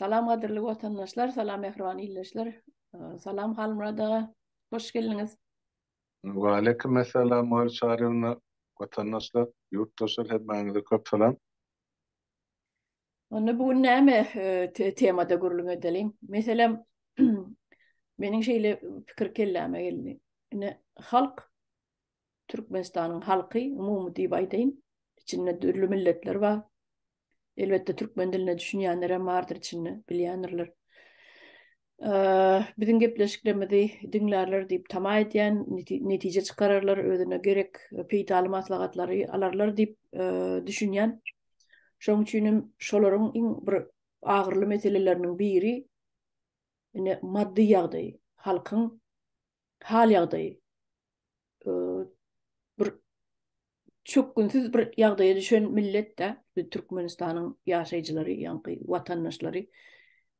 Salam gadyrly watandaşlar, salam mähriban ildeşler. Salam Halmurad aga, hoş geldiňiz. Waleýkim essalam Maýa Çaryýewna, watandaşlar, ýurtdaşlar hemmäňize köp salam. Onda bu gün näme temada gürrüň edeliň? Meselem, meniň şeýle pikir kelläme geldi. Ine, halk Türkmenistanyň halky, umumy diýip aýdaýyn, içinde dürli milletler bar. Elbetde, türkmen diline düşünýänler hem bardyr içinde, bilýändirler. Biziň gepleşiklerimizi diňlärler diýip tama edýän, netije çykararlar, özüne gerek peýdaly maslahatlary alarlar diýip düşünýän. Şonuň üçin hem şolaryň iň bir agyrly meseleleriniň biri ine maddy ýagdaýy, halkyň hal-ýagdaýy bir çökgünsiz bir ýagdaýa düşen millet-de, Türkmenistanyň ýaşaýjylary, ýaňky watandaşlary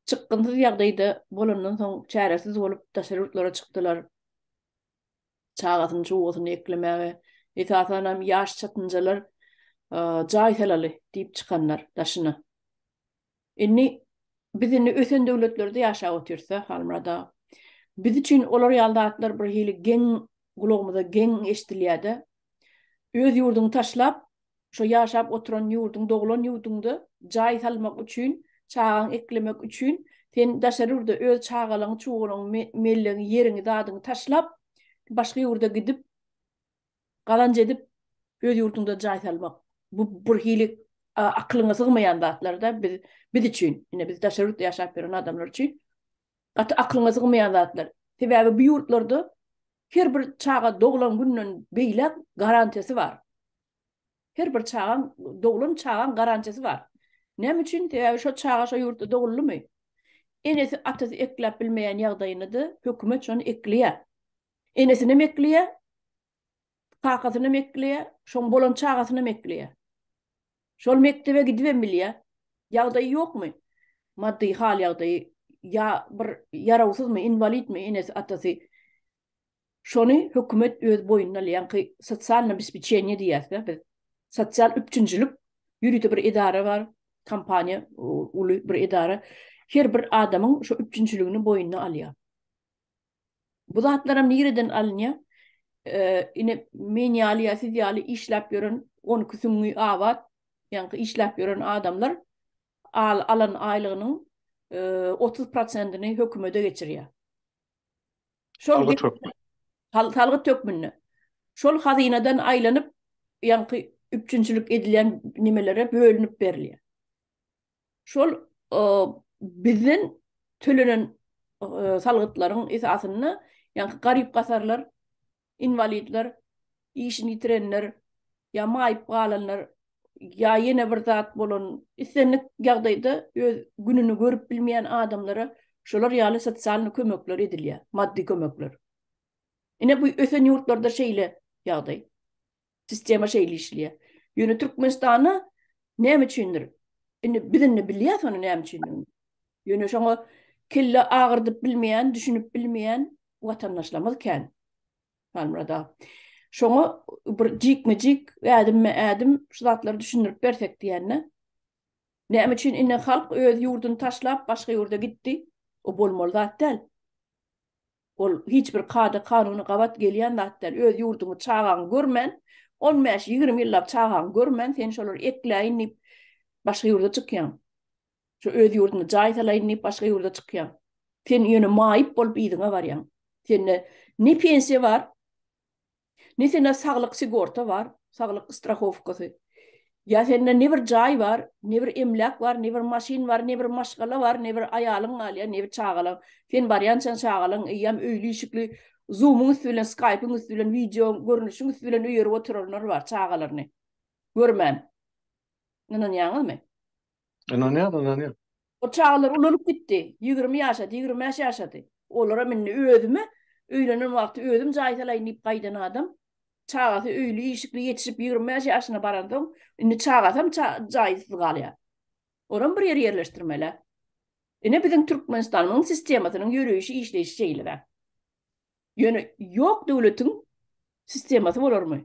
çykgynsyz ýagdaýda bolandan soň çäresiz bolup daşary ýurtlara çykdylar. Çagasyny, çugasyny eklemäge, esasan hem ýaş çatynjalar jaý salaly diýip çykanlar daşyna. Indi biz indi ösen döwletlerde ýaşap otyrsa, Halmyrat aga, biz üçin olar ýaly zatlar bir hili geň gulagymyza geň eşdilýär-de. Öz ýurduňy taşlap, şo ýaşap oturan ýurduň, doglan ýurduňda jaý salmak üçin, çagaňy eklemek üçin sen daşary ýurda öz çagalaňy, çugalaňy, mellegiňi, ýeriňi, zadyňy taşlap, başga ýurda gidip, gazanç edip öz ýurduňda jaý salmak bu bir hili akylyňa sygmaýan zatlarda biz biz üçin ine biz daşary ýurtda ýaşap ýören adamlar üçin gaty akylyňa sygmaýan zatlar sebäbi bu ýurtlarda her bir çaga doglan günden beýläk garantiýasy bar her bir çagaň doglan çagaň garantiýasy bar näme üçin sebäbi şo çaga şo ýurtda doguldymy enesi atasy ekläp bilmeýän ýagdaýynda hökümet şony ekleýär Enesinem ekleýär, kakasynam ekleýär, şoň bolan çagasynam ekleýär. Şol mekdebe gidibem bilýär. Ýagdaýy ýokmy? Maddy hal-ýagdaýy ýa bir ýarawsyzmy, inwalidmi enesi, atasy? Şony hökümet öz boýnuna alýanky sosialne obespeçeniýe diýýäs-dä biz. Sosial üpjünçilik ýörite bir edara bar, kompaniýa, uly bir edara. Her bir adamyň şo üpjünçiligini boýnuna alýar. Bu zatlaram nireden alynýa? Ine men ýaly ýa siz ýaly işläp ýören on iki süňňi abat ýaňky işläp ýören adamlar alan aýlygynyň otuz prosentini hökümede geçirýä. Şol salgyt hökmünde. Şol hazynadan aýlanyp ýaňky üpjünçilik edilýän nimelere bölünip berilýä. şol bizden tölenen salgytlaryň esasynda, ýa garyp-gasarlar, inwalidler, işini ýitirenler, ýa maýyp galanlar, ýa ýene bir zat bolan, islendik ýagdaýda öz gününi görüp bilmeýän adamlara şolar ýaly sosialnyý kömekler edilýär, maddy kömekler. Ine, bu ösen ýurtlarda şeýle ýagdaý. Sistema şeýle işleýär. Ýöne Türkmenistanda näme üçindir? Indi biz indi bilýäs ony näme üçindigini. Ýöne şoňa kelle agyrdyp bilmeýän, düşünip bilmeýän watandaşlarymyz kän. Halmyrada. Şoňa bir jikme-jik, ädimme-ädim şu zatlary düşündirip bersek diýende. Näme üçin indi halk öz ýurduny taşlap başga ýurda gitdi? O bolmaly zat däl. Ol hiç bir kada-kanuna gabat gelýän zat däl. Öz ýurduňy, çagaňy görmän, on bäş, ýigrimi ýyllap çagaňy görmän, sen şolary ekläýin diýip, başga ýurda çykýaň. Şu öz ýurdunda jaý salaýyn diýip, başga ýurda çykýaň. Sen ýöne maýyp bolup yzyňa barýaň. Sende ne pensiýa bar, Ne sende saglyk sigorta bar, saglyk strahowkasy. Ýa sende ne bir jaý bar, ne bir emläk bar, ne bir maşyn bar, ne bir maşgala bar, ne bir aýalyň galýar, ne bir çagalaň. Sen barýançaň çagalaň eýýäm öýli-işikli, Zoom-yň üsti bilen, Skype-yň üsti bilen, wideo görnüşiň üsti bilen öýerip oturanlary bar çagalaryny görmän. Ynanýaňyzmy? Ynanýan, ynanýan. O çagalar ulalyp gitdi. Ýigrimi ýaşady, ýigrimi bäş ýaşady. Olara mindi. Özüme öýlenen wagty özüm jaý salaýyn diýip gaýdan adam. Çagasy öýli, işikli ýetişip ýigrimi bäş ýaşyna baransoň, indi çagasam jaýsyz galýar. Olam bir ýere ýerleşdirmeli-ä. Ine biziň Türkmenistanymyň sistemasynyň ýöreýşi, işleýşi şeýle-dä. Ýöne ýok döwletiň sistemasy bolarmy?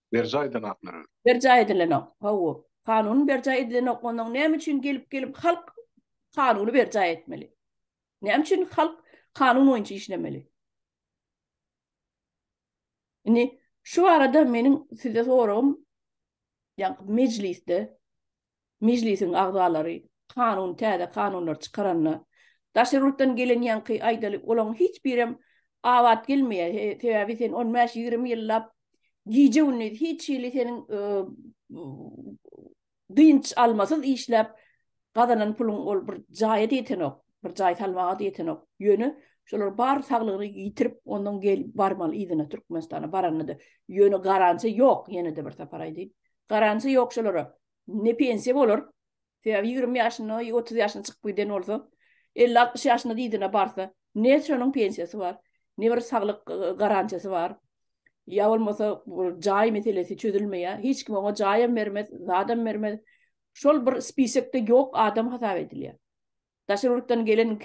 Berjaý edilenoklar öl. Berjaý edilenok. Hawa. Kanun berjaý edilenok. Ondan näme üçin gelip gelip halk kanuny berjaý etmeli? Näme üçin halk kanun boýunça işlemeli? Indi şu arada meniň size soragym, ýa mejlisde Mejlisiň agzalary kanun täze kanunlar çykaranda daş ýurtdan gelen ýaňky aýdaly olaň hiç birem abat gelmeýä sebäbi sen on bäş ýigrimi ýyllap gije gündiz hiç hili seniň dynç almasyz işläp gazanan puluň ol bir jaýa ýetenok bir jaý salmaga da ýetenok ýöne şolar bar saglygyny ýitirip ondan gel barmaly yzyna türkmenistana baranda da ýöne garantiýa ýok ýene de bir sapar aýdaýyn Garantiýa ýok şolara. Ne pensiýa bolar. Sebäbi ýigrimi ýaşynda, otuz ýaşyna çykyp giden bolsa, elli-altmyş ýaşyna dyzyna barsa, ne şonuň pensiýasy bar, ne bir saglyk garantiýasy bar. Ýa bolmasa bu jaý meselesi çözülmeýär. Hiç kim oňa jaýam bermez, zadam bermez. Şol bir spisekde ýok adam hasap edilýär. Daşary ýurtdan gelen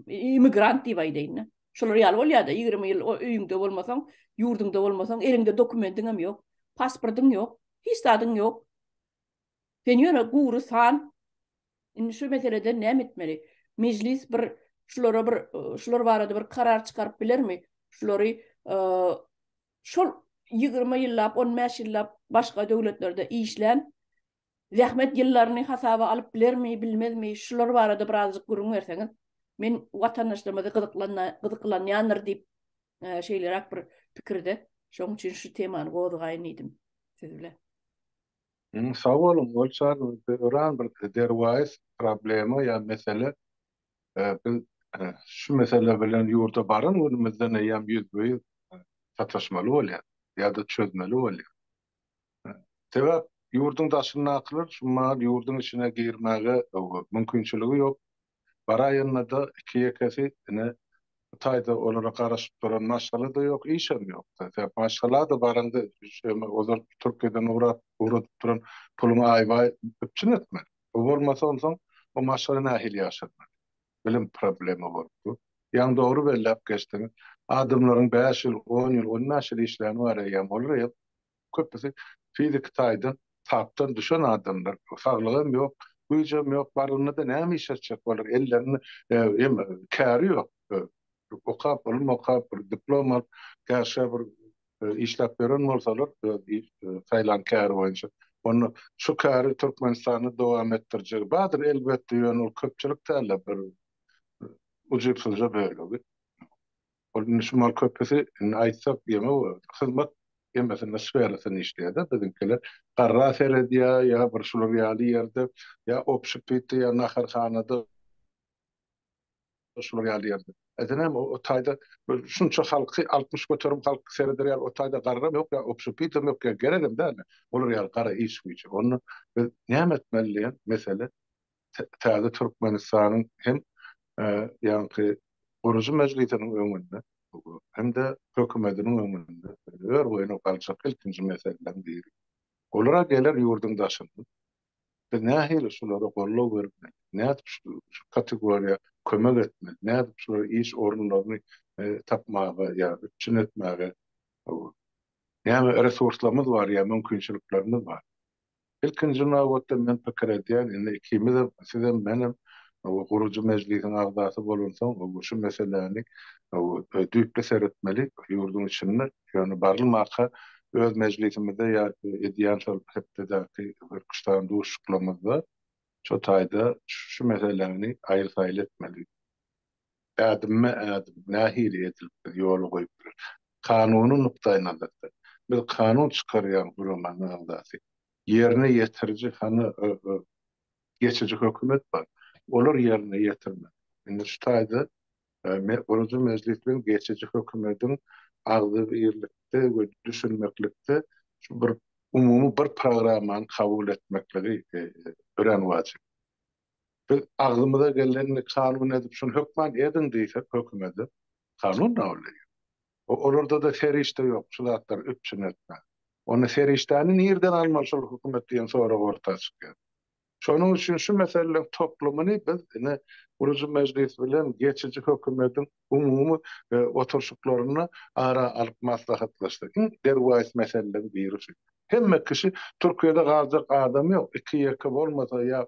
immigrant diýip aýdaýyn-da. Şolar ýaly bolýar-da, ýigrimi ýyl o öýüňde bolmasaň, ýurduňda bolmasaň, eliňde dokumentiň hem ýok, pasportyň ýok, hiç zadyň ýok. Sen ýöne gury san. Indi şu meselede näme etmeli? Mejlis bir şulara bir şular barada bir karar çykaryp bilermi? Şulary şol ýigrimi ýyllap, on bäş ýyllap başga döwletlerde işlän Zähmet ýyllaryny hasaba alyp bilermi, bilmezmi, şular barada birazjyk gürrüň berseňiz, men watandaşlarymyzy gyzyklanýandyr diýip, şeýleräk bir pikirde, şoň üçin şu temany gozgaýyn diýdim siz bilen. Sag boluň, ol çagymyzda öran bir derwaýys problema ýa mesele. Biz şu mesele bilen ýurda baran günümizden eýýäm ýüzbe-ýüz sataşmaly bolýarys ýa-da çözmeli bolýarys. Sebäp ýurduň daşyndakylar şu mal ýurduň içine girmäge mümkinçiligi ýok. Baraýanda-da iki-ýekesi ine Hytaýda olara garaşyp duran maşgala-da ýok, işem ýok-da. Sebäp maşgala-da baraňda ozal Türkiýeden ugrap, ugradyp duran puluňy aýbaý üpjün etmeli. Bu bolmasa onsoň o maşgala nähili ýaşaryn? bilim problema bolup dur. Ýaňy dogry belläp geçdiň. Adamlaryň bäş ýyl, on ýyl, ondan şir işläni bar eýýäm. Olar eýýäm köpüsi fiziki taýdan tapdan düşen adamlar. Saglygam ýok, güýjem ýok. Barlygyna-da näme iş etjek olar? Ellerinde hem käri ýok. Okap, ylym okap, bir diplom alyp, käşgä bir işläp beren bolsalar öz saýlan käri boýunça onda şu käri Türkmenistanda dowam etdirjegi bardyr elbetde ýöne ol köpçülik dälde bir ujypsyzja bölegi ol indi şumaň köpüsi indi aýtsak ýene hyzmat emmesinde sferasynda işleýärde biziňkiler garra seredýär ýa bir şular ýaly ýerde ýa obşpitde ýa naharhanada Şular ýaly ýerde. Eden hem o taýda şunça halky altmyş göterim halk sereder ýaly o taýda garram ýok ýa obşepitýam ýok ýa geregem däldi. Olar ýaly gara iş güýje. Onda biz näme etmeli diýen mesele täze Türkmenistanyň hem ýaňky gurujy mejlisiniň öňünde hem-de hökümetiniň öňünde ör boýuna galjak ilkinji meseleleriň biri. Olara geler ýurduň daşyndan Biz nähili şulara goldaw bermeli, nädip şu kategoriýa kömek etmeli, nädip şulara iş orunlaryny tapmaga ýa üpjün etmäge näme resurslarymyz bar ýa mümkinçiliklerimiz bar? Ilkinji nobatda men pikir edýän, indi ikimizem, sizem, menem gurujy mejlisiň agzasy bolansoň, şu meseläni düýpli seretmeli, ýurduň içinde, ýöne barlymaka öz mejlisimizde ýa edýän şol hepdedäki Türküstan duşuşyklarymyzda şu taýda şu meseläni aýyl-saýyl etmeli. Ädimme-ädim nähili edilip biz ýola goýup bileris? Kanuny nukdaýnazardan, biz kanun çykarýan guramanyn agzasy. Ýerine ýetiriji hany geçiji hökümet bar. Olar ýerine ýetirmeli. Indi şu taýda Guruji mejlis bilen geçiji hökümediň agzybirlikde we düşünmeklikde şu bir umumy bir programmany kabul etmekligi örän wajyp. Biz agzymyza gelenini kanun edip şuny hökman ediň diýsek hökümede, kanun kabul edýär. O olarda-da serişde ýok, şu zatlar üpjün etmek. Onda serişdäni nirden almaly şol hökümet diýen sorag orta çykýar. Şonuň üçin şu meseleleň toplumyny biz ine gurujy mejlis bilen geçiji hökümediň umumy oturşyklarynda ara alyp maslahatlaşsak. Iň derwaýys meseleleň biri şu. Hemme kişi Türkiýede galjak adam ýok iki ýeke bolmasa ýa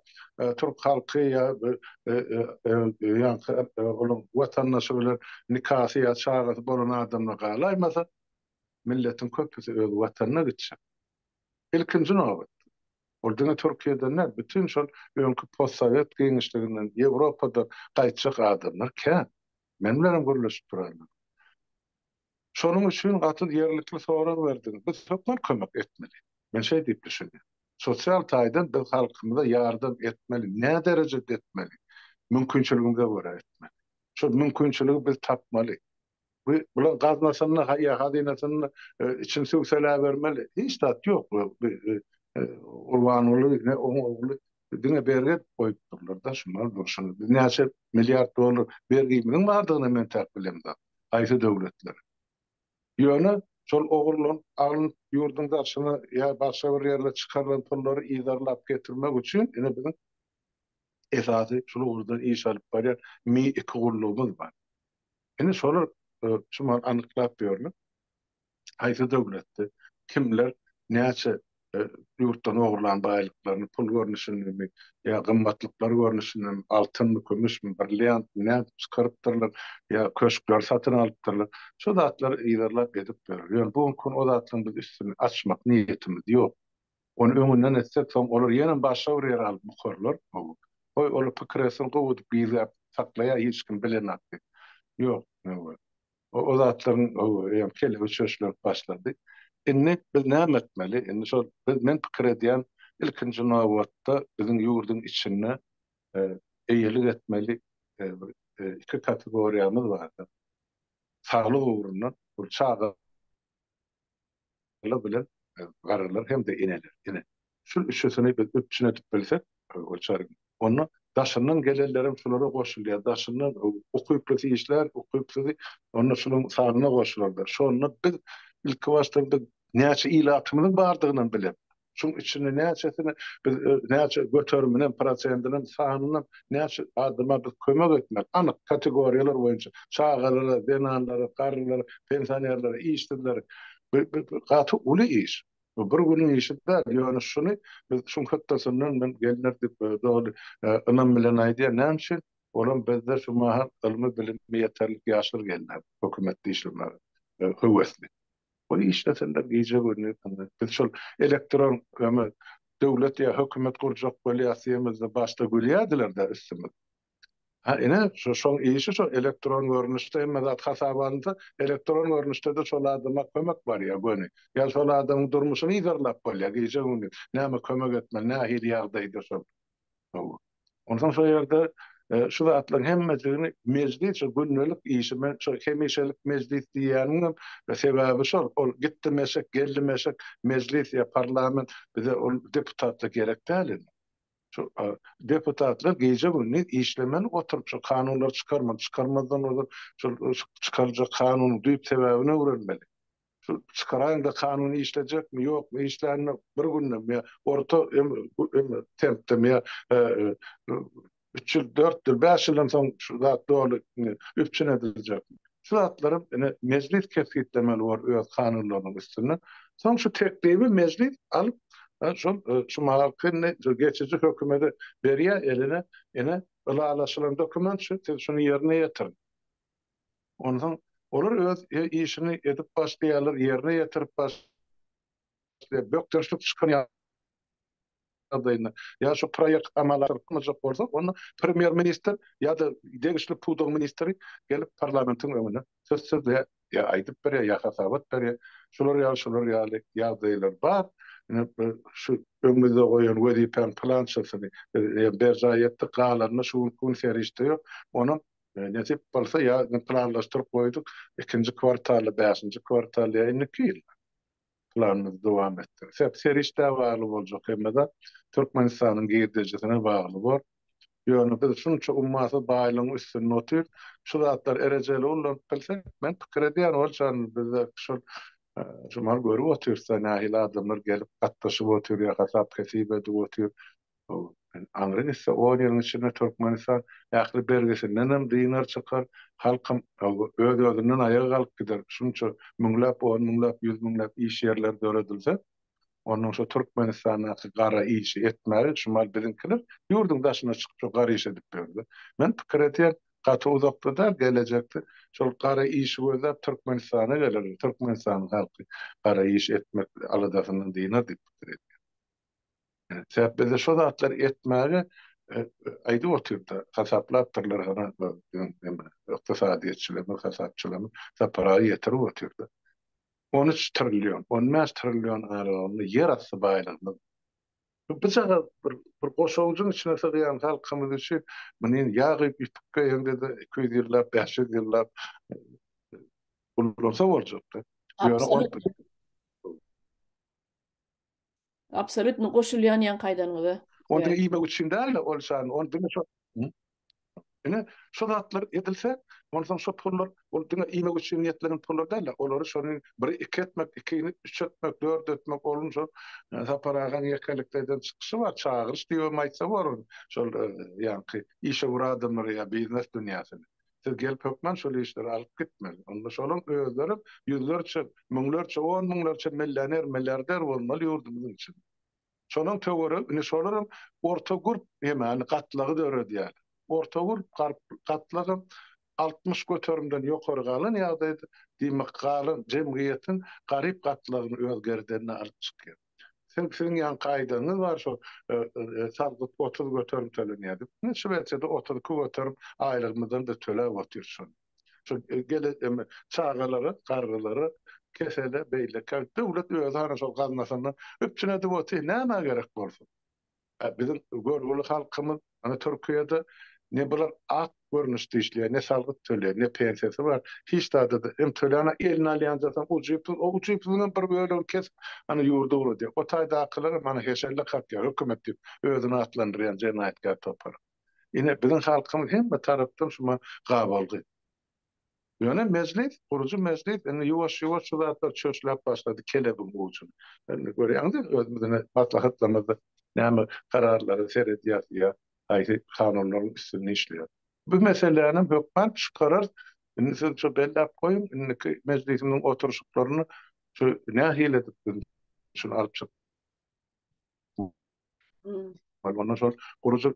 Türk halky ýa ýaňky onuň watandaşy bilen nikasy ýa çagasy bolan adamlar galaýmasa milletiň köpüsi öz watanyna gitjek ilkinji nobatda ol diňe Türkiýeden däl bütin şol öňki postsowet giňişliginden Ýewropadan gaýtjak adamlar kän men bilenem gürleşip duranlar. Şonuň üçin gaty ýerlikli sorag berdiň. Biz hökman kömek etmeli. Men şeý diýip düşünýän. Sosial taýdan biz halkymyza ýardam etmeli. Nä derejede etmeli? Mümkinçiligimize görä etmeli. Şol mümkinçiligi biz tapmaly. Bu bulaň gaznasynda ýa hazynasynda içini söwseläbermeli. Hiç zat ýok. Gurbanguly ne oň ogly Diňe bergi goýup durlar-da, şundan dur, şuny biz näçe milliard dollar bergimiziň bardygyny men täk bilemda, haýsy döwletler. Ýöne şol ogurlanyp alnyp ýurduň daşyna ýa başga bir ýerlere çykarylan pullary yzarlap getirmek üçin ine biziň esasy şul ugurdan iş alyp barýan mi iki gullugymyz bar. Ine şolar şumal anyklap ýörler. haýsy döwletde kimler näçe ýurtdan ogurlan baýlyklaryny, pul görnüşindemi ýa gymmatlyklar görnüşindemi, altynmy, kümüşmi, brilliantmy nädip çykarypdyrlar ýa köşkleri satyn alypdyrlar, şu zatlary yzarlap edip ýörler. Ýöne bu günki gün o zatlaryň biz üstüni açmak niýetimiz ýok. Ony öňünden etsek, soň olar ýene başga bir ýere alyp bukarlar. Goý, olar pikir etsin, gowudyp gizläp saklaýa, hiç kim bilenok diýip. Ýok, nöwet. O zatlaryň öň kelegi çöşlenip başlady. Indi biz näme etmeli? Indi şol biz men pikir edýän ilkinji nobatda biziň ýurduň içinde eýelik etmeli bir iki kategoriýamyz bardyr. Saglyk ugrundan, bu çaga Ala bilen garalar hem-de eneler. Ine, şul üçüsini biz üpjün edip bilsek, Gülçary, onda daşyndan gelenlerem şulara goşulýar. Daşyndan ukyplusy işlär, ukypsuzy onda şularyň sanyna goşularlar. Şonda biz ilkibaşda bir näçe ilatymyzyň bardygynam bilemok. Şuň içinde näçesini biz näçe göteriminem, prosentinem, sanynam näçe adama biz kömek etmeli, anyk kategoriýalar boýunça, çagalara, zenanlara, garrylara, pensionerlere, işsizlere, bu gaty uly iş. Bu bir günüň işi däl, ýöne şuny biz şuň hötdesinden men gelinler diýip doly ynam bilen aýdýan. Näme üçin? Olam bizde şu mahal ylmy bilimi ýeterlik ýaşlar gelýär hökümetde işlemäge höwesli. Goý işlesinler gije gündüz diňe. Biz şol elektron öme döwlet ýa hökümet gurjak bolýas diýemizde başda gülýädiler-de üstümiz. Ha ine şo şoň işi şo elektron görnüşde hemme zat hasaba alynsa elektron görnüşde-de şol adama kömek barýa göni. Ýa şol adamyň durmuşyny yzarlap bolýa gije gündüz näme kömek etmeli nähili ýagdaýda şol. Hawa. Onsoň şo ýerde şu zatlaryň hemmesini mejlis şu gündelik işi men şu hemişelik mejlis diýýäniňem sebäbi şol. Ol gitdim eşek, geldim eşek, mejlis ýa parlament bize ol deputatlar gerek däl indi. Şu deputatlar gije-gündiz işlemeli oturyp şu kanunlary çykarmaly, çykarmazdan ozal şol çykarjak kanunyň düýp sebäbini öwrenmeli. Şu çykaraýyňda kanun işlejekmi ýokmy işlänini bir gündem ýa orta tempdem ýa üç ýyl dört ýyl bäş ýyldan soň şu zat doly üpjün ediljekmi şu zatlary ine mejlis kesgitlemeli bor öz kanunlarynyň üstünde soň şu teklibi mejlis alyp şol şu mahalkyny şu geçiji hökümede berýär eline ine ylalaşylan dokument şu siz şuny ýerine ýetiriň. Onsoň olar öz işini edip başlaýarlar, ýerine ýetirip başlaýarlar, bökdençlik çykan ýagdaýynda ýa şu proýekt amala aşyrylmajak bolsa, onda premýer-ministr ýa-da degişli pudagyň ministri gelip parlamentiň öňüne söz sözleýär, ýa aýdyp berýär, ýa hasabat berýär. Şular ýaly, şular ýaly ýagdaýlar bar. Ine, şu öňümizde goýan wezipäň pylançasyny biz berjaý etdik, galanyna şu günki gün serişde ýok. Onuň Nesip bolsa ýa indi planlaşdyryp goýduk, ikinji kwartalda, bäşinji kwartalda ýa indiki ýyl planymyzy dowam etdiris. Hep serişdä bagly boljak, hemme-de Türkmenistanyň girdejisine bagly bor. Ýöne biz şunça ummasyz baýlygyň üstünde otyrys. Şu zatlar erejeli ullanyp bilse, men pikir edýän ol çagan bizde şol şu mahaly görüp otyrys-da nähili adamlar gelip gatnaşyp otyr ýa hasap-hesip edip otyr. Bu aňry gitse on ýylyň içinde Türkmenistan ähli bergisindenem dynar çykar, halkam öz-özünden aýaga galyp gider. Şunça müňläp, on müňläp, ýüz müňläp iş ýerleri döredilse, onnoň şo Türkmenistandaky gara işi etmäge şumal biziňkiler ýurduň daşyna çykyp şo gara iş edip ýörler. Men pikir edýän, gaty uzakda däl, gelejekde şol gara işi gözläp Türkmenistana gelerler, Türkmenistanyň halky gara iş etmek aladasyndan dynar diýip pikir edýän. Sebäp bizde şo zatlary etmäge aýdyp otyr-da, hasaplapdyrlar hany neme, ykdysadyýetçilerimiz, hasapçylarymyz saparagy ýetirip otyr-da. On üç trillion, on bäş trillion aralygynda ýerasty baýlygymyz. Bu bujagaz bir goşawujyň içine sygýan halkymyz üçin muny ýag edip ýüpükge hem-de iki ýüz ýyllap, bäş ýüz ýyllap gullansa boljak-da. Ýöne ol. Absolutno goşulýan ýaňky aýdanyňyza. Ony diňe iýmek üçin däl-de ol şan, ony diňe şo Ine, şo zatlar edilse, onsoň şo pullar, ol diňe iýmek üçin niýetlenen pullar däl-de, olary şony biri iki etmek, ikini üç etmek, dört etmek, onuň şo Sapar agaň ýekelikde eden çykyşy bar, çagyryş diýibem aýtsa bolar, şol ýaňky işewür adamlary ýa biznes dünýäsini. Siz gelip hökman şol işleri alyp gitmeli. Onda şolaň özlerem ýüzlerçe, müňlerçe, on müňlerçe millioner, milliarder bolmaly ýurdumyzyň içinde. Şolaň töweregi, indi şolaram orta gurp ýemany gatlagy döredýär. Orta gurp garp gatlagam altmyş göterimden ýokary galan ýagdaýda, diýmek, galan jemgyýetiň garyp gatlagyny öz gerdenine alyp çykýar. Sen siziň ýanky aýdanyňyz bar şo salgyt otuz göterim tölenýär diýip. Ine Şwesiýada otuz iki göterim aýlygymyzdan-da töläp otyr şony. Şu gele eme çagalara, garrylara, kesele, beýlekä döwlet özi hany şol gaznasyndan üpjün edip otyr, nämä gerek bolsun. Biziň görgüli halkymyz ony Türkiýede ne bular ak görnüşde işleýär, ne salgyt töleýär, ne pensiýasy bar. Hiç zady hem töläni eline alýanda soň ujypsyz, o ujypsyzyň hem bir bölegini kesip, ana ýurdy uradýar. O taýdakylar hem ana heşelle kakýar, hökümet diýip özüni atlandyrýan jenaýatkär topar. Ine biziň halkymyz hemme tarapdan şuma gabalgy. Ýöne mejlis, gurujy mejlis indi ýuwaş-ýuwaş şu zatlar çöşläp başlady kelebiň ujyny. Indi görýäňiz-de özümiziň maslahatlarymyzda näme kararlara seredýäris ýa haýsy kanunlaryň üstünde işleýäris. Bu meselänam hökman çykararys. Indi siz şu belläp goýuň, indiki mejlisimiziň oturyşyklaryny şu nähili edip biz şuny alyp çyk. Ondan soň gurujy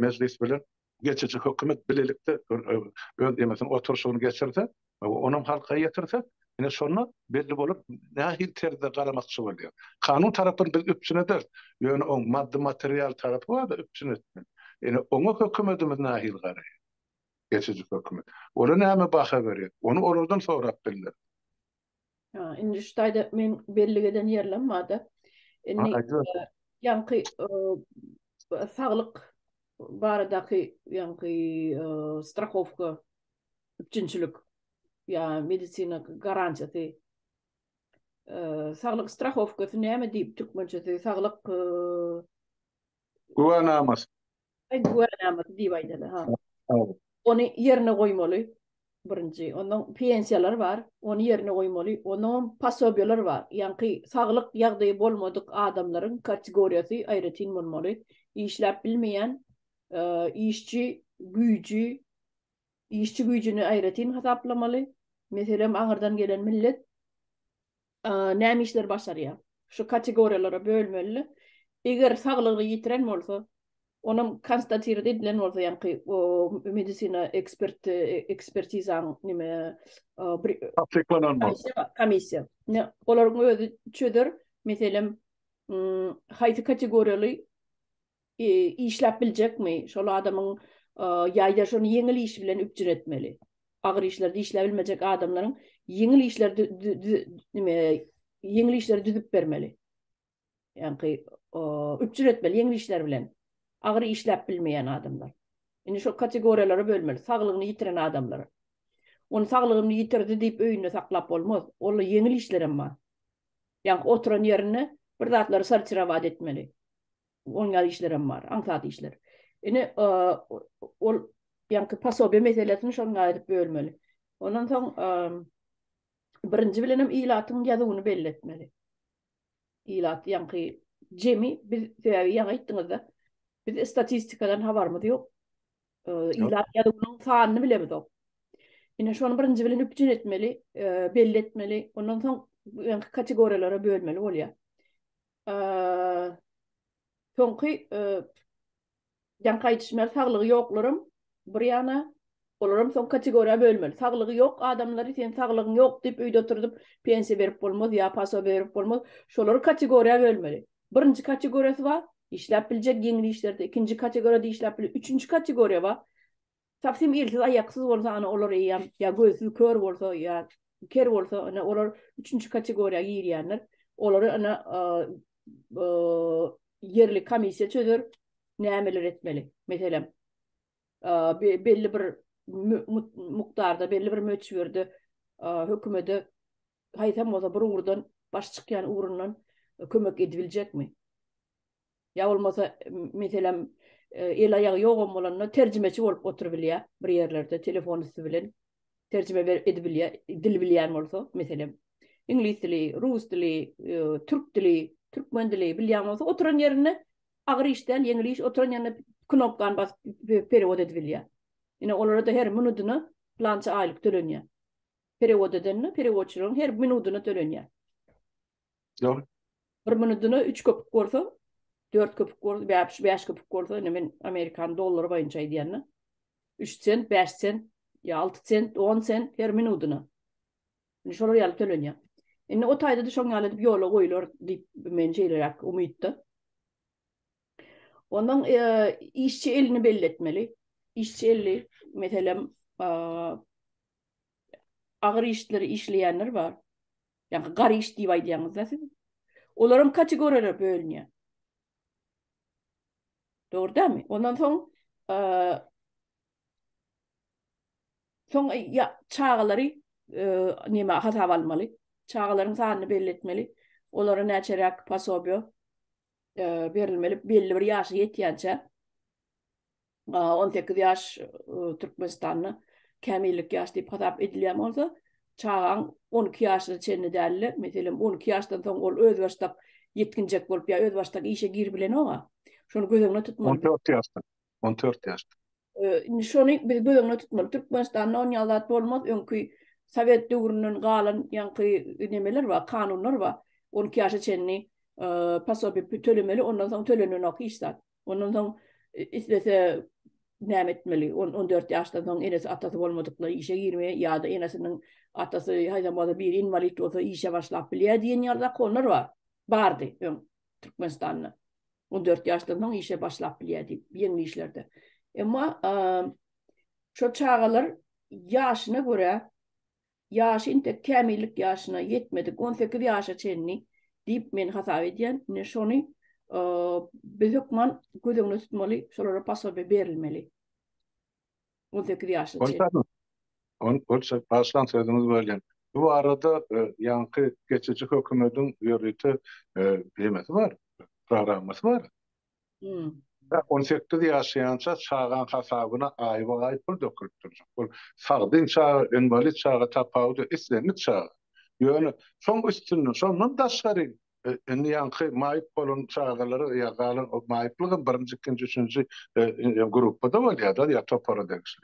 mejlis bilen geçiji hökümet bilelikde öz ýeňisin oturşygyny geçirse, onam halka ýetirse, ine şonda belli bolar nähili terzde garamakçy bolýar. Kanun tarapyn biz üpjün ederis, ýöne oň maddy-material tarapy barda üpjün etmeli. Ine oňa hökümetimiz nähili garaýar? Geçiji hökümet. Ola näme baha berýär? Ony olardan sorap bildiris. Indi şu taýda men bellik eden ýerlem barda. Indi ýaňky saglyk baradaky ýaňky strahowka üpjünçilik ýa medisina garantiýasy saglyk strahowkasy näme diýip türkmençesi saglyk güwänamasy Güwänamady diýip aýdaly, ha. Ony ýerine goýmaly, birinji. Ondan pensiýalar bar, ony ýerine goýmaly. Ondanam posobiýalar bar. Ýaňky saglyk ýagdaýy bolmadyk adamlaryň kategoriýasy aýratyn bolmaly. Işläp bilmeýän işçi güýji, işçi güýjüni aýratyn hasaplamaly. Meselem, aňyrdan gelen millet näme işleri başarýar? Şu kategoriýalara bölmeli. Eger saglygyny ýitiren bolsa, onam konstatirdi edilen bolsa, ýaňky medisina ekspert ekspertizaň nime bir tassyklanan bolsa, komissiýa. Olaryň özi çözer, meselem, haýsy kategoriýaly Işläp biljekmi? Şol adamyň ýa-da şony ýeňil iş bilen üpjün etmeli. Agyr işlerde işläp bilmejek adamlaryň ýeňil işleri nime, ýeňil işleri düzüp bermeli. Ýaňky üpjün etmeli ýeňil işler bilen. Agyr işläp bilmeýän adamlar. Indi şol kategoriýalara bölmeli. Saglygyny ýitiren adamlar. Ony saglygyny ýitirdi diýip öýünde saklap bolmaz. Onda ýeňil işler hem bar. Ýaňky oturan ýerinde bir zatlary sortirowat etmeli. Oňýar işlerem bar, aňsat işler. Ine, ol ýaňky pasobiýa meselesini şonuň aýryp bölmeli. Ondan soň birinji bilenem ilatyň ýazuwyny belli etmeli. Ilat ýaňky jemi biz sebäbi ýaňy aýtdyňyzda biz statistikadan habarymyz ýok. Ilat ýazuwynyň sanyny bilemiz ýok. Ine şony birinji bilen üpjün etmeli, belli etmeli. Ondan soň ýaňky kategoriýalara bölmeli bolýar. Soňky ýaňky aýdyşymda saglygy ýoklaram bir ýana olaram soň kategoriýa bölmeli. Saglygy ýok adamlary sen saglygyň ýok diýip öýde oturdyp pensiýa berip bolmaz ýa paso berip bolmaz. Şolary kategoriýa bölmeli. Birinji kategoriýasy bar, işläp biljek ýeňil işlerde, ikinji kategoriýada işläp biljek, üçünji kategoriýa bar. Tapsym ilsiz aýaksyz bolsa ana olar eýýäm ýa gözsüz kör bolsa ýa ker bolsa ana olar üçünji kategoriýa girýänler. Olary ana ýerli komissiýa çözer nämeler etmeli. Meselem belli bir mukdarda belli bir möçberde hökümede haýsam bolsa bir ugurdan baş çykýan ugrundan kömek edibiljekmi? Ýa bolmasa, meselem, el-aýagy ýogam bolanda terjimeçi bolup oturybilýär bir ýerlerde, telefon üsti bilen terjime edibilýär, dil bilýän bolsa, meselem, iňlis dili, rus dili, türk dili, türkmen dili bilýän bolsa, oturan ýerinde agyr iş däl, ýeňil iş, oturan ýerinde knopkany basyp perewod edibilýär. Ine, olara-da her minudyna plança aýlyk tölenýär. Perewod edende, perewodçylaryň her minudyna tölenýär. Ýok. Bir minudyna üç köpük bolsa, dört köpük bolsa, bäş, bäş köpük bolsa, indi men amerikan dollary boýunça aýdýan-da. Üç sent, bäş sent, ýa alty sent, on sent her minudyna. Indi şolar ýaly tölenýär. Indi o taýda-da şoň ýaly edip ýola goýular diýip, men şeýleräk umytda. Ondan işçi elini belli etmeli. Işçi eli, meselem, agyr işleri işleýänler bar. Ýa-da gariş diýip aýdýaňyz-da siz. Olaram kategoriýalara bölünýär. Dogry dämi? Ondan soň soň ýa çagalary näme hasaba almaly? Çagalaryň sanyny belli etmeli. Olara näçeräk pasobiýa berilmeli belli bir ýaşa ýetýänçä on sekiz ýaş Türkmenistanda kämillik ýaş diýip hasap edilýän bolsa, çagaň on iki ýaşyna çenli dälde, meselem, on iki ýaşdan soň ol özbaşdak ýetginjek bolup ýa özbaşdak işe girip bilenok-a. Şony göz öňünde tutmaly. On dört ýaşdan. On dört ýaşdan. Indi şony biz göz öňünde tutmaly. Türkmenistanda on ýaly zat bolmaz. Öňki sowet döwründen galan ýaňky nemeler bar, kanunlar bar. On iki ýaşa çenli posobiýa tölemeli, ondan soň tölenenok hiç zat. Ondan soň islese näme etmeli? On dört ýaşdan soň enesi, atasy bolmadyklar işe girmeýär ýa-da enesiniň, atasy haýsam bolsa biri inwalid bolsa işe başlap bilýär diýen ýaly zakonlar bar. Bardy öň Türkmenistanda. On dört ýaşdan soň işe başlap bilýär diýip, ýeňil işlerde. Emma şol çagalar ýaşyna görä, ýaşy intek kämillik ýaşyna ýetmedik, on sekiz ýaşa çenli diýip men hasap edýän. Ine şony biz hökman göz öňünde tutmaly, şolara posobiýe berilmeli. On sekiz ýaşyna çenli. Başlan sözüňiz welin, bu barada ýaňky geçiji hökümediň ýörite nemesi bar, programmasy bar. On sekiz ýaşaýança çagaň hasabyna aýba-aý pul dökülip durjak. Bu sagdyn çaga, inwalid çaga tapawudy, islendik çaga. Ýöne şoň üstünde, şondan daşgary Indi ýaňky maýyp bolan çagalar ýa galan o maýyplygam birinji, ikinji, üçünji gruppada bolýar-da ýa topara degişli.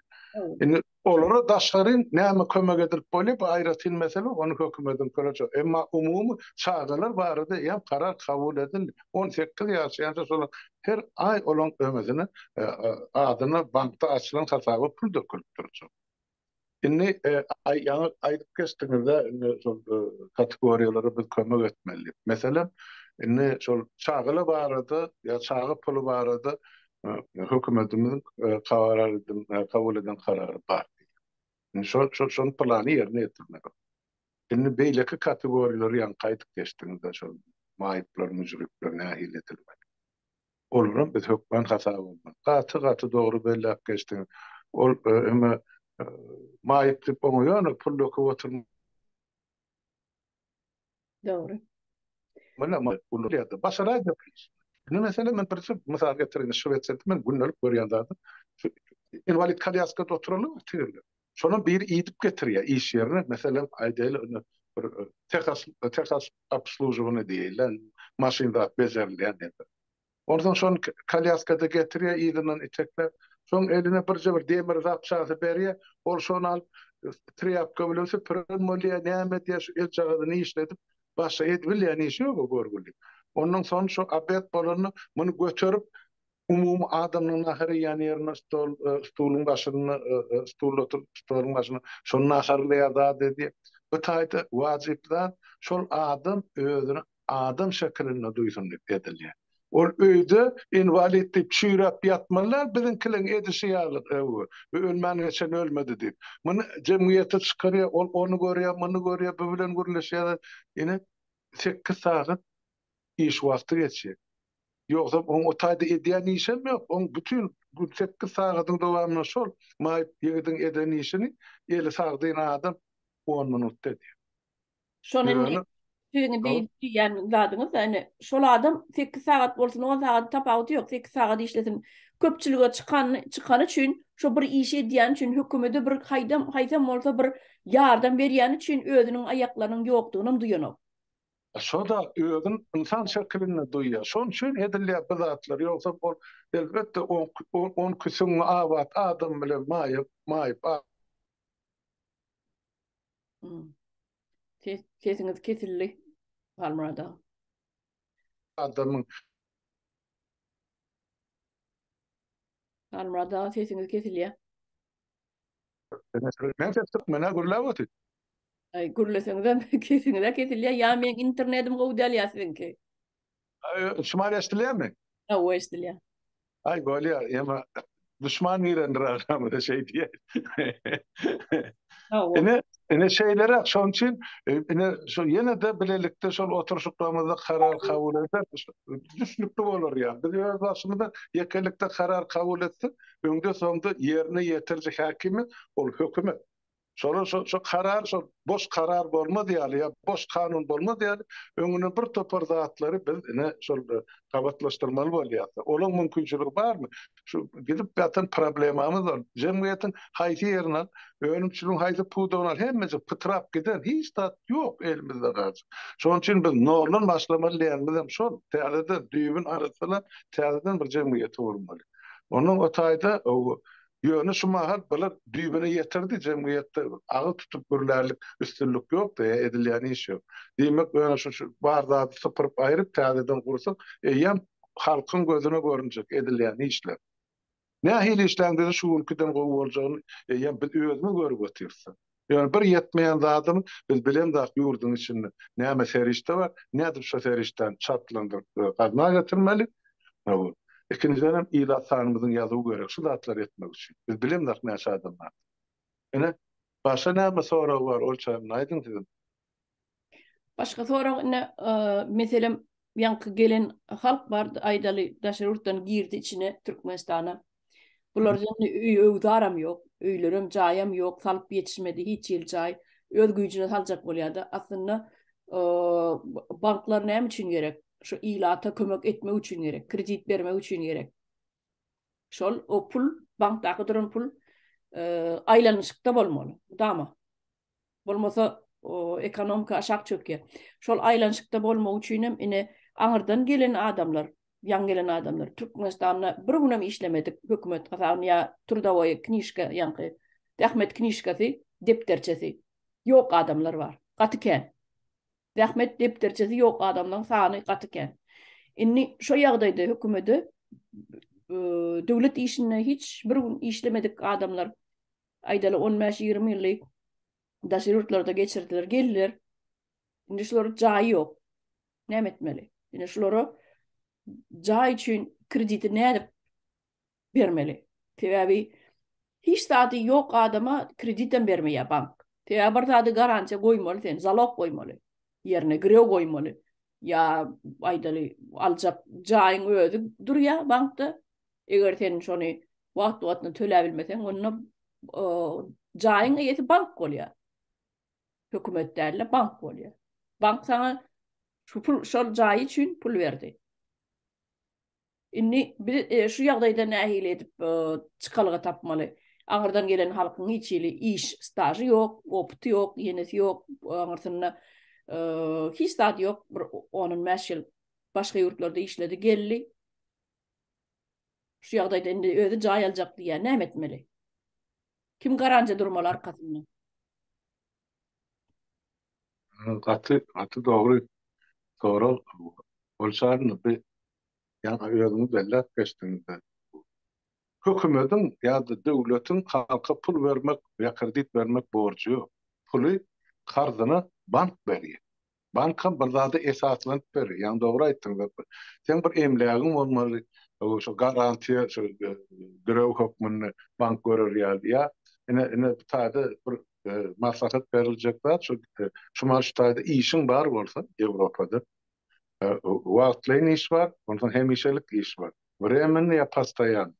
Indi olara daşgaryn näme kömek edilip bolýar, bu aýratyn mesele, ony hökümediň köreje. Emma umumy çagalar barada eýýäm karar kabul edildi. On sekiz ýaşa ýaşa şolaň her aý olaň öňüsine adyna bankda açylan hasaba pul dökülip durjak. Indi ýaňy aýdyp geçdiňizde indi şol kategoriýalara biz kömek etmeli. Meselem, indi şol çagala barada ýa çaga puly barada hökümetimiziň kabul eden karary bar. Indi şol şol plany ýerine ýetirmeli. Indi beýleki kategoriýalary ýaňky aýdyp geçdiňizde şol maýyplar, müjripler nähili edilmeli? Olaram biz hökman hasap almaly. Gaty gaty dogry belläp geçdiňiz. Ol öňe maýyp diýip oňa ýöne pul döküp oturmaly. Dogry. Başaraýda biz. Indi meselem men birje mysal getireýin. Şwesiýada men gündelik görýän zadym. Inwalid kolýaskada oturanlar bar tigirler. Şonam biri idip getirýär iş ýerine. Meselem, aýdaýly, indi bir tehes, tehes obslužowany diýeli, maşyn zat bejerilýän ýerde. Onsoň şony kolýaskada getirýär, yzyndan itekläp, soň eline birje bir demir zapçasy berýär, ol şony alyp, trýapka bilen süpüren bolýar, näme edýär, şu eljagazyny işledip, başga edibilýän işi ýok o görgüliň. Ondan soň şu obed bolanda, muny göterip, Umumy adamynyň nahar iýýän ýerine stol, stoluň başynda, stulda oturyp, stoluň başynda şol naharlaýar zat edýär. Bu taýda wajyp zat, şol adam özüni adam şekilinde duýsun diýip edilýär. Ol öýde inwalid diýip çüýräp ýatmaly däl, biziňkileriň edişi ýaly, öwü, bu ölmän geçen ölmedi diýip. Muny jemgyýete çykarýar, ol ony görýär, muny görýär, bu bilen gürleşýärler. Ine, sekiz sagat iş wagty geçjek. Ýogsam oň o taýda edýän işem ýok. Oň bütin gün sekiz sagadyň dowamynda şol maýyp ýigidiň eden işini eli sagdyn adam on minutda edýär. Şony indi Ýöne siziň Hol. diý diýýän zadyňyz-da indi şol adam sekiz sagat bolsun, on sagat tapawudy ýok, sekiz sagat işlesin. Köpçülige çykan çykany üçin, şo bir işi edýäni üçin, hökümede bir haýdam haýsam bolsa bir ýardam berýäni üçin özüniň aýaklarynyň ýokdugynam duýanok. Şo-da özün ynsan şekilinde duýýar. Şonuň üçin edilýär bu zatlar. Ýogsa ol, elbetde, on küsün abat adam bilen maýyp. Sesiňiz kesildi, Halmyrat aga. Adamyň. Halmyrat aga, sesiňiz kesilýär. Men ses çykmana gürläp otyr. Ay gürleseňizem kesiňize kesilýä ýa meň internetim gowy däl ýa siziňki. Şumal eşdilýärmi? Hawa eşdilýär. Ay bolýa ýa düşman girendir agramyza şeý diýä. Ine ine şeýlere şoň üçin ine şo ýene de bilelikde şol oturşyklarymyzda karar kabul etsek düşnükli bolar ýa. Biz öz başymyzda ýekelikde karar kabul etsek öňde-soňda ýerine ýetiriji häkimi ol hökümet. Şolar şo şo karar şo boş karar bolmaz ýaly ýa boş kanun bolmaz ýaly öňüne bir topar zatlary biz ine şol gabatlaşdyrmaly bolýas. Olaň mümkinçiligi barmy? Şu gidip ýatan problemamyz ol. Jemgyýetiň haýsy ýerini al, önümçiligiň haýsy pudagyny al hemmejik pytrap giden hiç zat ýok elimizde galjak. Şonuň üçin biz noldan başlamaly diýenimizem şol. Täzeden düýbüni arassalap täzeden bir jemgyýeti gurmaly. Ondan o taýda Ýöne şu mahal bular düýbüne ýetirdi, jemgyýetde agyz tutup gürlärlik üstünlik ýokdy, edilýän iş ýok. Diýmek, ýöne şu bar zady sypyryp aýryp täzeden gursak, eýýäm halkyň gözüne görünjek edilýän işler. Nähili işläň bize şu günkiden gowy boljagyny eýýäm biz özümiz görüp otyrsda. Ýöne bir ýetmeýän zadymyz, biz bilemzok ýurduň içinde näme serişde bar, nädip şo serişdäni çaltlandyryp gazna getirmeli. Ikinjidenem ilat sanymyzyň ýazuwy gerek şu zatlary etmek üçin. Biz bilemzok näçe adam bardygyny. Ine, başga näme sorag bar, ol çaýyny aýdyň sizem. Başga sorag ine meselem ýaňky gelen halk bar aýdaly daşary ýurtdan girdi içine Türkmenistana. Bular ýene öý öwzaram ýok, öýlerem jaýam ýok, salyp ýetişmedi hiç ýyl jaý. Öz güýjüne saljak bolýada. Aslynda banklar näme üçin gerek? Şu ilata kömek etmek üçin gerek, kredit bermek üçin gerek. Şol o pul bankdaky duran pul aýlanyşykda bolmaly. Mudama. Bolmasa ekonomika aşak çökýär. Şol aýlanyşykda bolmak üçinem ine aňyrdan gelen adamlar, ýaňy gelen adamlar Türkmenistanda bir günem işlemedik hökümet hasabyna ýa trudowoýa knižka ýaňky zähmet knižkasy, depderçesi ýok adamlar bar. Gaty kän. Zähmet depderçesi ýok adamlaryň sany gaty kän. Indi şo ýagdaýda hökümede döwlet işinde hiç bir gün işlemedik adamlar Aýdaly, on bäş, ýigrimi ýyly daşary ýurtlarda geçirdiler, geldiler. Indi şulara jaý ýok. Näme etmeli? Indi şulara jaý üçin krediti nädip bermeli? Sebäbi hiç zady ýok adama kredit hem bermeýär bank. Sebäbi bir zady garantiýa goýmaly sen, zalog goýmaly. Ýerine girew goýmaly. Ýa aýdaly, aljak jaýyň özi durýar bankda. Eger sen şony wagt-wagtyna töläp bilmeseň, onda jaýyň eýesi bank bolýar. Hökümet däl-de, bank bolýar. Bank saňa şu pul, şol jaý üçin pul berdi. Indi biz şu ýagdaýda nähili edip çykalga tapmaly? Aňyrdan gelen halkyň hiç hili iş stažy ýok, opyty ýok, ýenesi ýok, aňyrsynda hiç zady ýok, bir on-on bäş ýyl başga ýurtlarda işledi, geldi. Şu ýagdaýda indi özi jaý aljak diýýär, näme etmeli? Kim garanja durmaly arkasynda? Gaty, gaty dogry sorag. Ol çagyny bi ýaňy özüňiz belläp geçdiňizde, hökümediň ýa-da döwletiň halka pul bermek ýa kredit bermek borjy ýok. Puly karzyna bank berýär. Bankam bir zada esaslanyp berer. Ýaňy dogry aýtdyň Zeppa. Seň bir emlägiň bolmaly, şo garantiýa şo girew hökmünde bank görer ýaly. Ýa ine, ine bu taýda bir maslahat beriljek zat şo, şumal şu taýda işiň bar bolsa Ýewropada, wagtlaýyn iş bar, onsoň hemişelik iş bar, wremennyý ýa postoýannyý.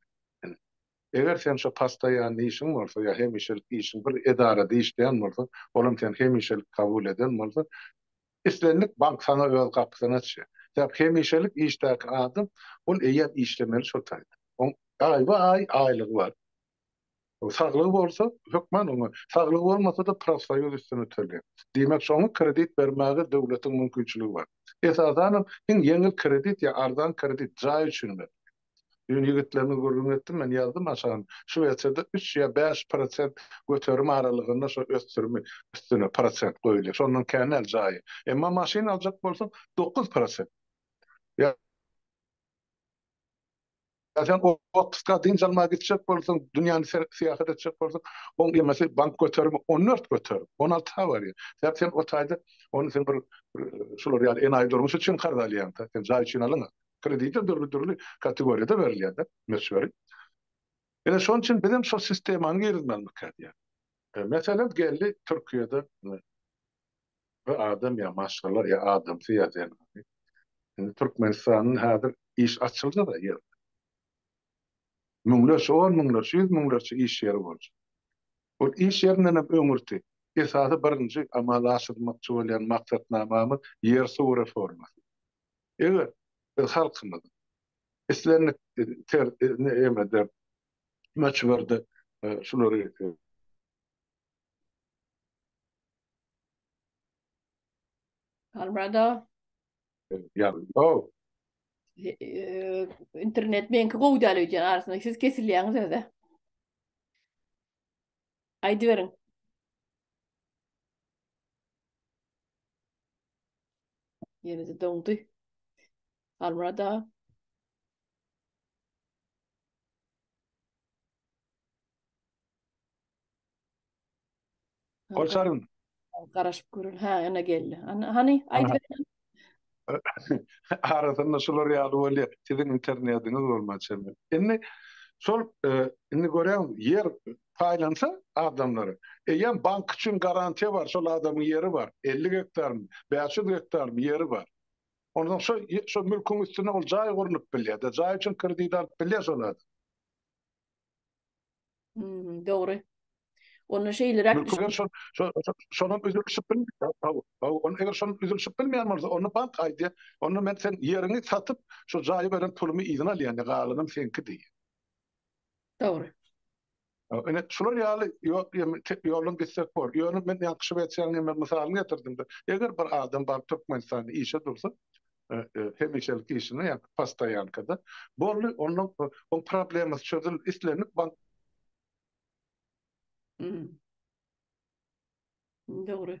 Eger sen şo postoýanny işiň bolsa ýa hemişelik işiň bir edarada işleýän bolsaň, olam seni hemişelik kabul eden bolsa, islendik bank saňa öz gapysyny açýar. Sebäp hemişelik işdäki adam, ol eýýäm işlemeli şo taýda. Oň aýba-aý aýlygy bar. Saglygy bolsa, hökman oňa, saglygy bolmasa-da profsoýuz üstüne tölýär. Diýmek, şoňa kredit bermäge döwletiň mümkinçiligi bar. Esasanam, iň ýeňil kredit ýa arzan kredit jaý üçin berilýär. Düýn ýigitlerimiz gürrüň etdi, men ýazdym aşagyn. Şu wersiýada üç ýa bäş prosent göterim aralygynda şo ösdürimi üstüne prosent goýulýar. Şondan kän däl jaýy. Emma maşyn aljak bolsaň, dokuz prosent. Ýa sen otpuska, dynç almaga gitjek bolsaň, dünýäni serip syýahat etjek bolsaň, oň emesi bank göterimi on dört göterim, on alty ha barýar. Sebäp sen o taýda ony sen bir şular ýaly enaýy durmuş üçin karz alýaň-da. Sen jaý üçin alyňa. Kredite dürli-dürli kategoriýada berilýär-de möçberi. Ine, şonuň üçin biz hem şol sistemany girizmelidikä diýýän. Meselem, geldi Türkiýede bir adam ýa maşgala, ýa adamsy, ýa zenany. Indi Türkmenistanda häzir iş açyldy-da her ýerde. Müňlerçe, on müňlerçe, ýüz müňlerçe iş ýeri boljak. Ol iş ýerinden hem öňürti esasy birinji amala aşyrylmakçy bolýan maksatnamamyz ýer-suw reformasy. Eger biz halkymyzy islendik ter-lemede, möçberde şulary Albrado. Internet meňki gowy däl öýdýän arasynda siz kesilýäňiz öze. Aýdyberiň. Ýene-de doňdy. Halmyrat aga. Golçaryn. Garaşyp görün. Ha, ana geldi. Ana, hani, aýdyberin. Arasynda şular ýaly bolýar. Siziň internetiňiz bolman çenli. Indi şol, e, indi göräň, ýer paýlansa adamlara, eýýäm bank üçin garantiýa bar, şol adamyň ýeri bar, elli gektarmy, bäş ýüz gektarmy ýeri bar. Onsoň şo şo mülküň üstüne ol jaý gurnup bilýär-de, jaý üçin kredit alyp bilýär şol adam. Hmm, dogry. Onda şeýleräk Mülki eger şol şo- şo- şonuň üzülişip bilmeýär. Hawa, hawa, ony eger şonuň üzülişip bilmeýän bolsa, onda bank aýdýar, onda men sen ýeriňi satyp, şo jaýy beren pulumy yzyna alýan, galanam seňki diýýär. Dogry. Ine, şular ýaly ýoluň gitsek bor. Ýöne men ýaňky Şwesiýanyň hem mysalyny getirdim-de, eger bir adam baryp Türkmenistanda işe dursa, hemişelik işine, ýa postoýankada, boldy, onda onuň problemasy çözüldi, islendik bank. Dogry.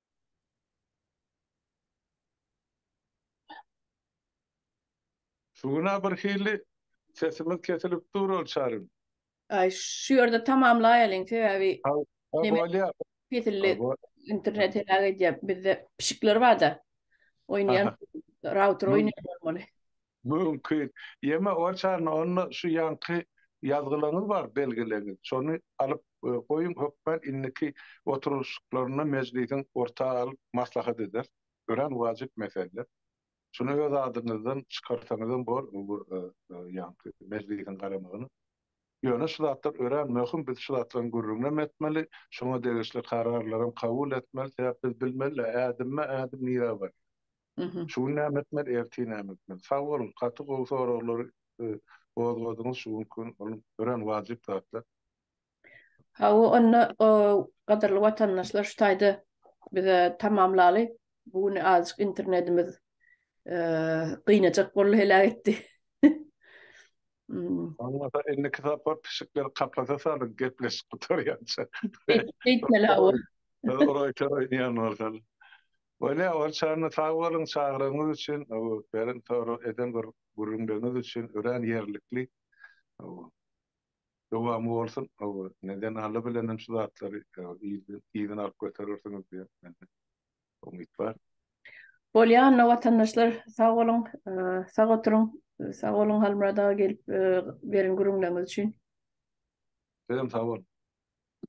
Şu güna bir hili sesimiz kesilip dur ol çarym. Aý şu ýerde tamamlaýalyň sebäbi bolýa kesildi internet heläk edýär bizde pişikler barda oýnaýan router oýnaýan bolmaly. Mümkin. Ýeme oçany onda şu ýanky ýazgylaňyz bar belgileňiz. Şony alyp goýuň hökman indiki oturylyşyklarynda mejlisiň orta alyp maslahat ederis. Örän wajyp mesele. Şuny öz adyňyzdan çykarsaňyzam bor bu ýanky mejlisiň garamagyna. Ýöne şu zatlar örän möhüm biz şu zatlaryň gürrüňinem etmeli, şoňa degişli kararlaram kabul etmeli sebäp biz bilmeli-ä ädimme ädim nirä barýar. Şu gün näme etmeli ertir näme etmeli. Sag boluň gaty gowy soraglary gozgadyňyz şu günki gün ol örän wajyp zatlar. Hawa onda gadyrly watandaşlar şu taýda bize tamamlaly bu gün azjyk internetimiz gynajak boldy heläk etdi. Bolmasa indiki sapar pişikleri kapasa salyň gepleşik gutarýança. Beýtmeli hawa. Ora çora ýanwarsaly. Bolýa ol çany sag boluň çagyrygyňyz üçin beren sorag eden bir gürrüňleriňiz üçin örän ýerlikli dowamy bolsun neden Alla bilenem şu zatlary yzyna alyp göterersiňiz diýen mende umyt bar. Bolýa onda watandaşlar sag boluň sag oturyň sag boluň Halmyrat aga gelip beren gürrüňleriňiz üçin. Sizem sag boluň.